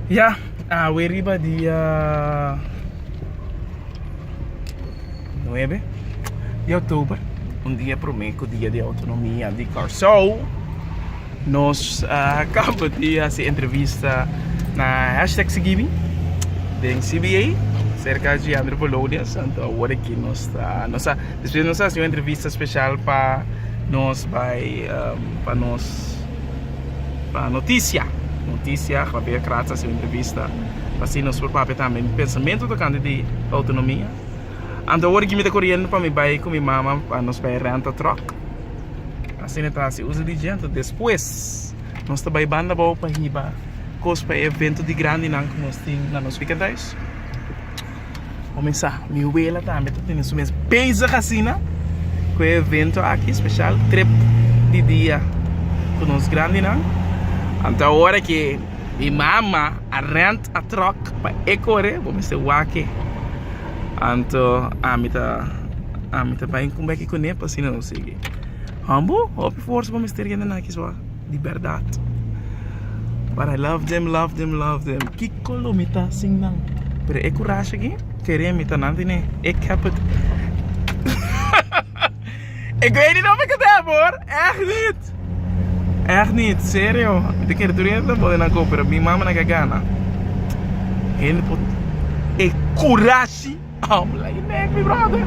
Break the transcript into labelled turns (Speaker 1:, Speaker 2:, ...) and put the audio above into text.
Speaker 1: Ya awe riba dia nuebe di oktober un dia prome ku dia di outonomia di Kòrsou nos a kaba di hasi entrevista na hashtag Sigibi den CBA serka di André Polonius anto awor aki nos ta nos a despues nos a hasi un entrevista speshal pa nos bai pa nos. pa noticia noticia papia kras hasi entrevista pa si nos por papia tambe mi pensamentu tocante di autonomia anto awor aki mi ta coriendo pa mi bay cu mi mama pa nos bay renta truck asina ta hasi uso di djento despues nos ta bay banda abao pa hiba cos pa e evento di grandinan cu nos tin na nos ficaduish Comenzá. Mi wela tambe ta tene su mes bezig asina cu e evento aki, special trip di dia cu nos grandinan. Anto ahora que mi mama a rent a truck pa e core, bo mester wak-e. Anto ami ta, ami ta bai cumba aki cune pa asina nos sigui. Hopi forsa bo mester yende na aki sua. di berdad but I love them love them love them kiko lo mi ta sin nan pero e kurashi aki kere mi ta nan di ne ik heb het ik weet niet of ik het heb hoor echt niet echt niet serio mi ta kere tur yende ta body nan koper mi mama na ke gana hende por e kurashi habla je nek mi brother.